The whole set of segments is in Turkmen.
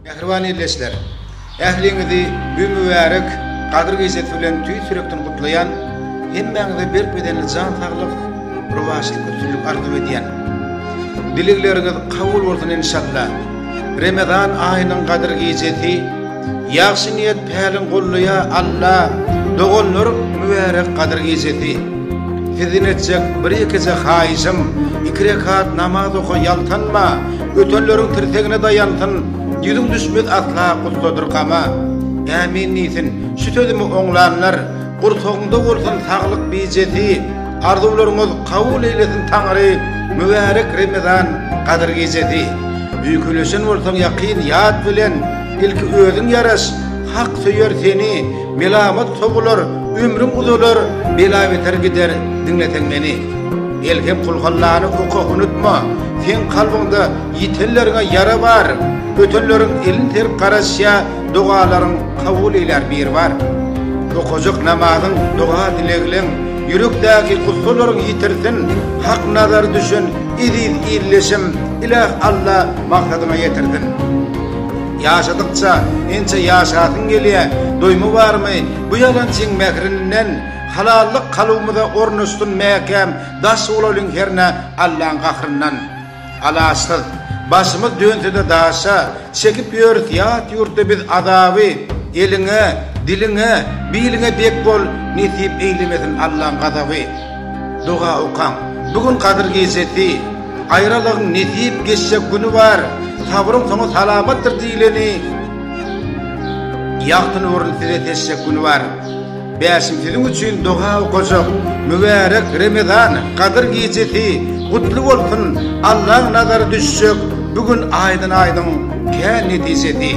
Mähriban ildeşler! Ähliňizi bu mübärek Gadyr gijesi bilen tüýs ýürekden gutlaýan, hemmäňize berk bedenli jan saglyk, rowaçlyk, üstünlik arzuw edýän. Dilegleriňiz kabul bolsun enşalla! Remezan aýynyň Gadyr gijesi, ýagşy niýet päliň gollaýa Alla! Doganlar mübärek Gadyr gijesi! Sizden etjek bir ýekeje haýyşym, iki rekat namaz oka ýaltanma! Ötenleriň tirsegine daýansyn, Ýüzüň düşmez asla gussadyr gama. Ämin diýsin, şu sözümi oňlanlar, Gursagyňda bolsun saglyk bijesi, Arzuwlaryňyz kabul eýlesin Taňry, Mübärek Remezan gadyr gijesi. Öýkeleşen bolsaň ýakyn ýat bilen, Ilki özüň ýaraş, hak söýer seni, Melamat sogular, ömrüň uzalar, Bela-beter gider, diňleseň meni. Elhem Kulhallany oka unutma, seň kalbyňda ýitenleriňe ýara bar, ötenleriň elin serip garaşýa, dogalaryň kabul eýlär bir bar. Okajak namazyň, doga dilegleň, ýürekdäki gussalaryň ýitirsin, hak nazary düşen eziz illeşim, Ilah Alla maksadyňa ýetirsin. Ýaşadykça ençe ýaşasyň gelýä, doýma barmy bu ýalançyň mährininden, Halallyk kalbymyza ornaşsyn mäkäm daş bolalyň hernä Allaň gahryndan alaçsyz başymyz dönsede daşa çekip ýörüs ýat ýurtda biz azaby eliňe diliňe biliňe dek bol nesip eýlemesin Allaň gazaby doga okaň bu gün gadyr gejesi aýralygyň nesip geçjek güni bar sabryň soňy salamatdyr diýleni ýagty nuryny size seçjek güni bar. Bäşim siziň üçin doga okajak Mübärek Remezan Gadyr gijesi gutly bolsun Allaň nazary düşjek bu gün aýdyň aýdyň kän netijesi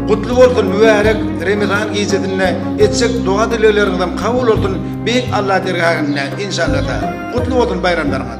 Gutly bolsun Mübärek Remezan gijesinde etjek doga dilegleriňizem kabul bolsun Beýik Alla dergähinde inşallata Gutly bolsun baýramlaryňyz.